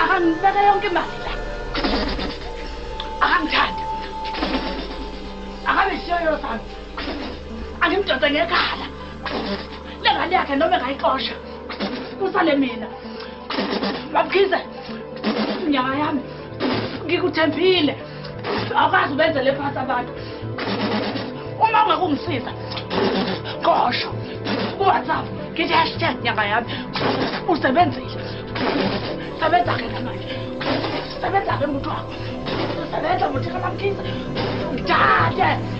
akangibeke yonke imali la akangithandi akabe siyoyo sami angimdonse ngekhala le ngane yakhe noma engayixosha kusale mina babukhize nyanga yami ngikuthembile Awukwazi ubenze le phansi abantu. Uma ungakungisiza. Qosho. Ku-WhatsApp ngithi hashtag nyanga yami. Usebenzile. Sebenza ke manje. Sebenza ke muntu wakho. Sebenza muthi kamamkhize. Ngidade.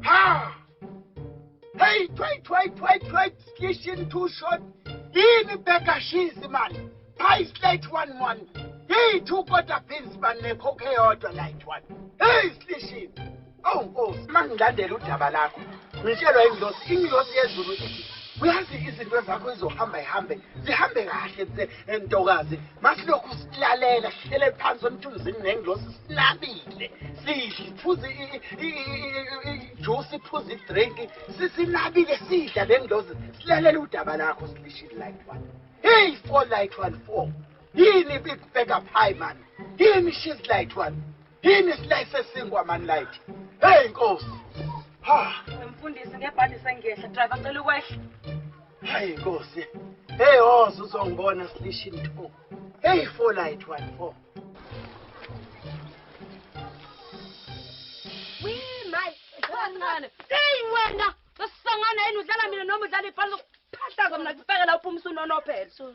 ha hey wait wait wait wait station too short yini bheka shizi mani pie slate one one hey two quarter beans mani nekhokhe eyodwa light one hey station awu oh, nkosi uma ngilandela udaba lakho ngitshelwa ingilosi ingilosi yezulu ithi uyazi izinto zakho izohamba ihambe zihambe kahle entokazi masilokhu silalela sihlele phansi emthunzini nengilosi sinabile sidle phuze ijuice iphuze idrink sisinabile sidla le ngilosi silalela udaba lakho silishile light one hey four light one four yini big bag up high man yini she's light one Yini isilayi sesinkwa man like. Hey Nkosi. Ha. Mfundisi ngebhadi sengehla driver cela ukwehla. Hayi Nkosi. Hey ozo oh, uzongibona silishini 2. Hey for light 14. We my kancane. Hey wena, sasangana yini udlala mina noma udlala ibhola? Phahlaza mina kufekela uphumisa unonophelo.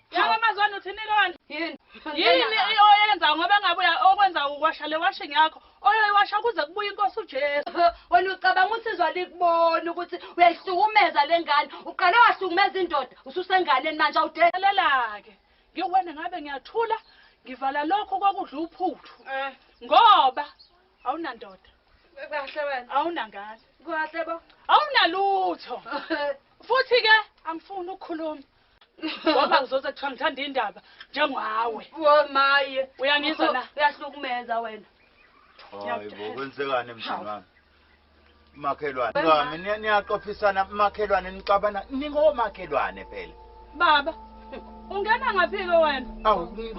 Yaba mazwana uthini lona? Yini? Yini oyenza ngoba ngabe okwenza ukwasha le washing yakho? Oyoyiwasha kuze kubuye inkosi uJesu. Wena ucabanga usizwa likubona ukuthi uyayihlukumeza lengane. Uqale wahlukumeza indoda, ususenganeni manje awudele. Lalelake. Ngiwena ngabe ngiyathula ngivala lokho kokudla uphuthu. Eh. Ngoba awunandoda. Kahle wena. Awunangane. Kahle bo. Awunalutho. Futhi ke angifuni ukukhuluma. ngoba ngizoze kuthiwa ngithanda indaba njengawe womaye uyangizwa na uyahlukumeza wena hayibo kwenzekani emzini wami makhelwane ngami niyaxophisana makhelwane nixabana ningomakhelwane phela baba ungena ngaphi-ke wena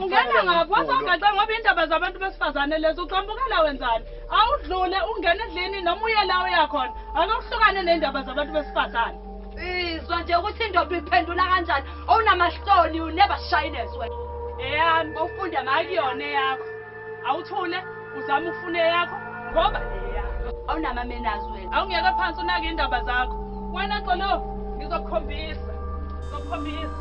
ungena ngaphi wasogaxe ngoba iy'ndaba zabantu besifazane lezo uqambukela wenzani awudlule ungena edlini noma uye la uyakhona ake uhlukane ney'ndaba zabantu besifazane Izwa nje ukuthi indoda uyiphendula kanjani. Owunamahloni you never shyness wena. Eyami bowufunda makuyona eyakho. Awuthule uzama ukufuna eyakho ngoba eyakho. Awunama manners wena. Awungeke phansi unake indaba zakho. Wena Xolo ngizokukhombisa. Ngizokukhombisa.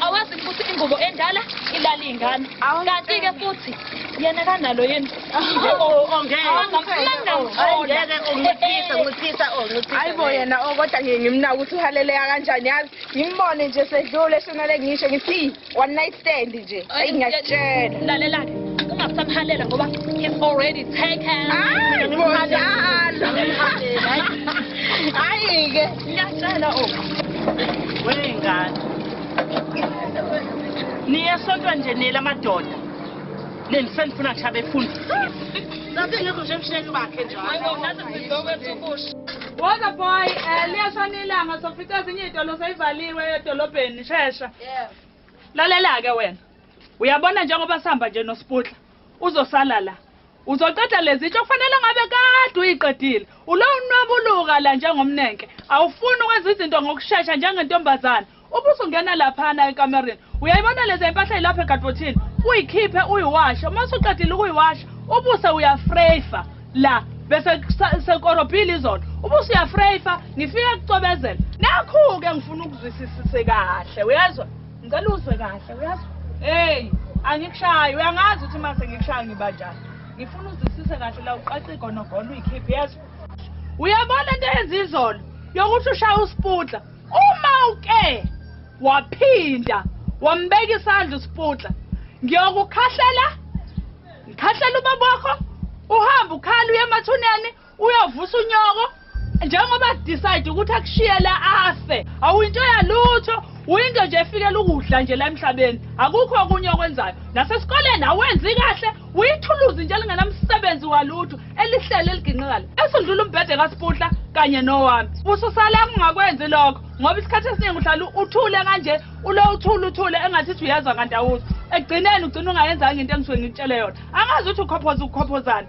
awazi ukuthi ingubo endala ilala iy'ngane kanti-ke futhi yena kanalo yena ayibo yena o kodwa ngiye ngimnaka ukuthi uhaleleka kanjani yazi ngimbone nje sedlule shonale ngisho ngithi one night stand nje ayi ngiyakutshela lalelake ungasamhalela ngoba he's already taken hayi-ke Ngiyacela oku. Wengane. Niye sontwa nje nile amadoda. Nendisenifuna ngishabe efundisi. Ngabe ngekho nje emsheni bakhe njalo. Hayibo ngaze sizokwethu kusho. Woza boy, eh liyashona ilanga sofica ezinye izitolo seyivaliwe edolobheni shesha. Lalela ke wena. Uyabona njengoba sihamba nje noSiputla. Uzosala la. Uzoqeda lezitsho kufanele ngabe kade uyiqedile. Ulo unwabuluka la njengomnenke. Awufuni ukwenza izinto ngokushesha njengentombazana. Ubuso ngena laphana ekamereni. Uyayibona lezi impahla ilapha ekadpothini. Uyikhiphe uyiwashe. Uma usuqedile ukuyiwasha, ubuse uyafrefa la bese sekorobhile izolo. Ubuse uyafrefa, ngifike kucobezela. Nakhu ke ngifuna ukuzwisisise kahle. Uyezwa? Ngicela uzwe kahle uyazi. Hey, angikushayi uyangazi ukuthi mase ngikushaya ngiba njani. Ngifuna uzisise kahle la uqaqa igonogono uyikhiphe yazi. Uyabona into eyenza izolo yokuthi ushaya usiputla. Uma uke waphinda wambeka isandla usiputla ngiyokukhahlela ngikhahlela ubaba wakho uhambe ukhala uye emathuneni uyovusa unyoko njengoba decide ukuthi akushiye la afe awuyinto yalutho uyinto nje efikela ukudla nje la emhlabeni akukho okunye okwenzayo nasesikoleni awenzi kahle uyithuluzi nje elingenamsebenzi walutho elihlele eliginqikala esundlula umbhede kasiputla kanye nowami ususala kungakwenzi lokho ngoba isikhathi esiningi uhlala uthule kanje ulo uthule uthule engathi uthi uyezwa kanti awuzwa ekugcineni ugcina ungayenzanga into engisuke ngikutshele yona angazi ukuthi ukhophoza ukukhophozana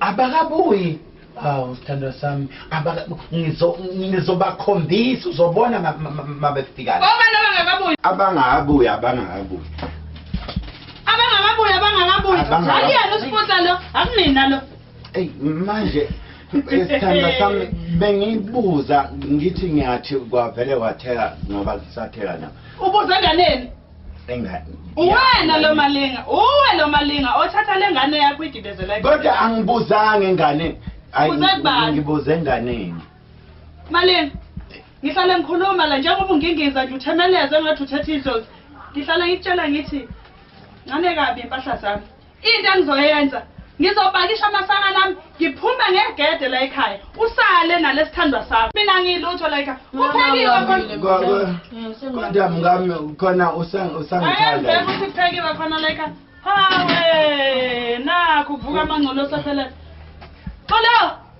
abakabuyi hawu sithandwa sami ngizobakhombisa uzobona mabefikana abangakabuyi abangakabuyi abangakabuyi abangakabuyi akuyena usipota lo akunina lo eyi manje isithandwa sami bengibuza ngithi ngiyathi kwavele wathela ngoba kusathela na ubuza enganeni engane uwena lo malinga uwe lo malinga othatha le ngane yakho igibezela kodwa angibuzanga enganeni ngibuze enganeni malinga ngihlale ngikhuluma la njengoba ungingiza nje uthemeleze engathi uthetha idlozi ngihlale ngikutshela ngithi ncane kabi impahla zami Into engizoyenza ngizopakisha amasaka nami ngiphume ngegede la ekhaya usale nalesithandwa sakho mina ngilutho la ekhaya kuphekiwe kodwa mngami khona usangithanda ukuthi kuphekiwe khona la ekhaya hawe nakho kuvuka amangcolo sasele xolo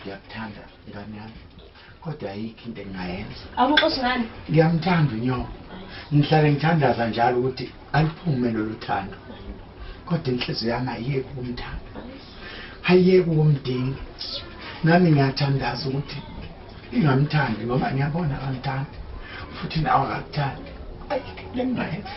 ngiyakuthanda ngane yami kodwa ayikho into engingayenza awuxoshi ngani ngiyamthanda unyoko ngihlale ngithandaza njalo ukuthi aluphume lolu thando kodwa inhliziyo yami ayiyeki ukumthanda ayiyeki ukumdinga nami ngiyathandaza ukuthi ingamthandi ngoba ngiyabona akamthandi futhi nawe akakuthandi ayikho into engingayenza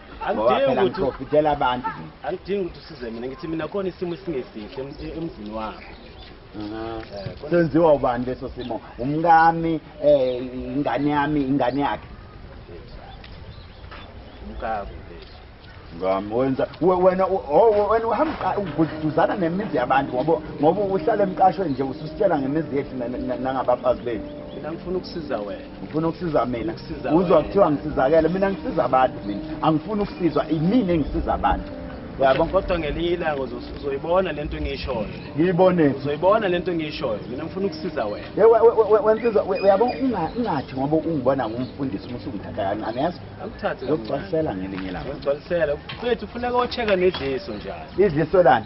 angidingi ukuthi ngidela abantu angidingi ukuthi usize mina ngithi mina khona isimo esingesihle emzini wakho eh, senziwa ubani leso simo umkami eh ingane yami ingane yakhe umkami ngami wenza wena oh, wena uhamba uduzana nemizi yabantu ngoba ngoba uhlala emqashweni nje ususitshela ngemizi yethu nangabafazi bethu mina ngifuna ukusiza wena ngifuna ukusiza mina uzwa kuthiwa ngisizakele mina ngisiza abantu mina angifuni ukusizwa imina engisiza abantu yabo kodwa ngelinye ilanga uzoyibona le nto engiyishoyo ngiyibone uzoyibona le nto engiyishoyo mina ngifuna ukusiza wena wensizwa uyabo ungathi ngoba ungibona ngumfundisi uma usungithatha kancane yazi angithathe ngokugcwalisela ngelinye ilanga ngokugcwalisela mfethu ufuneka ocheck-a nedliso njalo idliso lani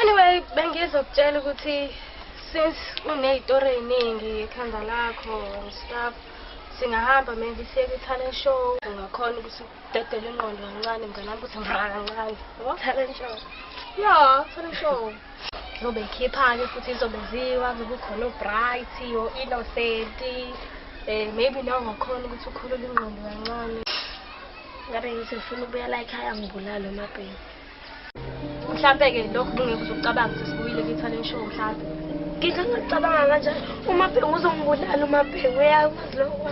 anyway bengizokutshela ukuthi since uneyitori eyiningi ekhanda lakho and stuff singahamba maybe siye kwi-talent show ungakhona ukuthi udedele ingqondo kancane mnganami ukuthi mra kancane talent show ya talent show zobe ikhipha-ke futhi izobe ziwa zobe ukhona obright o-innocent um eh, maybe naw ungakhona ukuthi ukhulule ingqondo kancane ngabe ngithi ngifuna ukubuya la ekhaya ngibulale umabheni mhlampe-ke lokhu kungekho uzokucabanga ukuthi sibuyile kwi-talent show mhlampe ngike ngacabanga kanjani umabhengu uzongibulala umabhengu uyakwazi lokho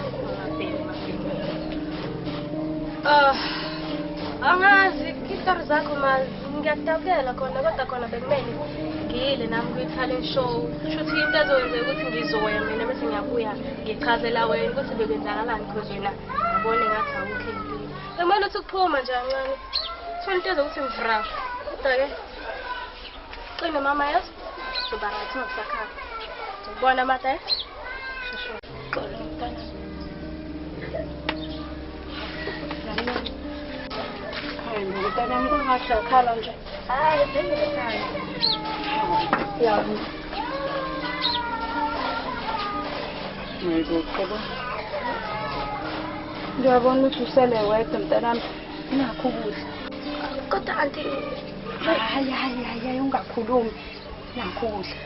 ah, angazi itori zakho ma ngiyakutabukela khona kodwa khona bekumele ngiyile nami kwi-talent show kushuthi into ezokwenzeka ukuthi ngizoya mina bese ngiyabuya ngichazela wena ukuthi bekwenzakalani because wena ngibone ngathi awukho empini Sekumele uthi uphuma nje kancane. Thola into ezokuthi mvra. Kodwa ke qine mama yazi. Uba right ungasakhala. Ngibona mata eh. Shushu. Xolo mntana. Hayi mntana mntana nje. Ngiyabona ukuthi usele wedwa mntanami nakho ukudla. Kodwa anti hayi hayi hayi ungakhulumi nakho ukudla.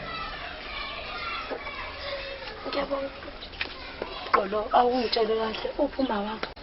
Ngiyabona. Gqolo awungitshele kahle uphi uma wakho?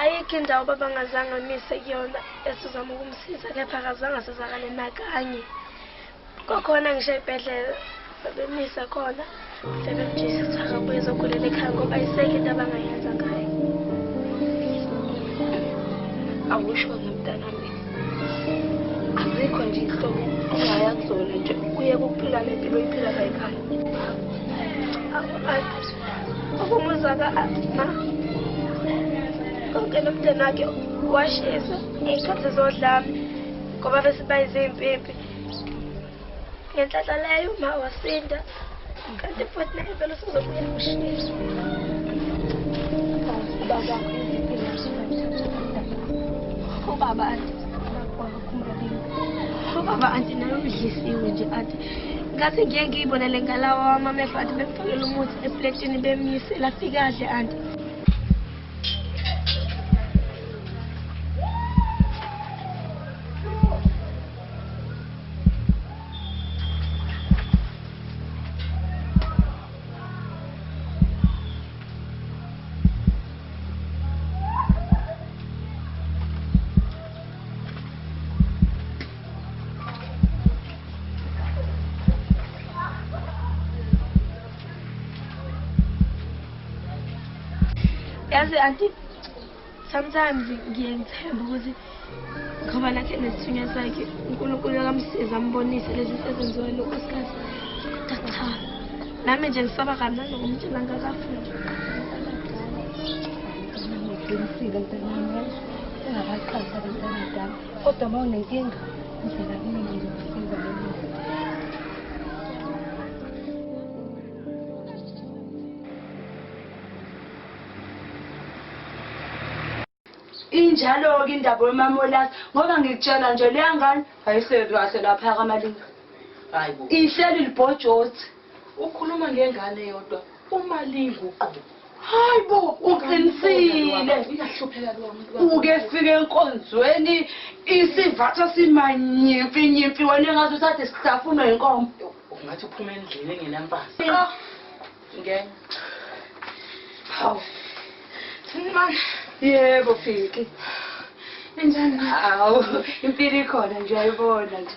Ayikho indawo baba ngazange amise kuyona esizama ukumsiza kepha akazange asizakale nakanye kwakhona ngisho ebhedlela babemisa khona sebemjisa ukuthi akabuye ezogulela ekhaya ngoba isekho into abangayenza ngayo awusho nomntanami azikho nje ihlobo ongaya kuzona nje kuye kuphila nempilo iphila kayikhaya Umuzi waka ma konke nomndeni wakhe washisa ngey'khathi zodlame ngoba bese bayizimpimpi ngenhlanhla leyo uma wasinda kanti futhi naye vele usezobuya kushisa ubaba akho iziphi ubaba Baba anti nayo udlisiwe nje anti ngathi ngeke ngiyibone le ngalawa wamamehlo anti bemfakela umuthi epletini bemyise lafikadle anti yazi anti sometimes ngiye ngithembe ukuthi ngoba nakhe nesithunywa sakhe unkulunkulu akamsiza ambonise lezi sezenziwa lokho sikhathi kodwa cha nami nje ngisaba kabi nanokumtshela ngakafundi Ungabaqhathi abantu abadala kodwa uma unenkinga uzela kimi ngizokusiza loluntu. Injalo-ke indaba wemamolasi ngoba ngikutshela nje leya ngane ayihleli kahle lapha kamalinga. Ihleli libhojothi. Ukhuluma ngengane yodwa uma linguqobo. Hayi bo, uqinisile. Uyahlupheka lo muntu. Uke fike enkonzweni isivatha simanyimfi nyimfi wena engazi uthathe sihlafunwa inkomo. Ungathi uphuma endlini engenamfazi. Ah. Ngeke. Hawu. Sinimani? Yebo, Fiki. Injani? Hawu, impilo ikhona nje ayibona nje.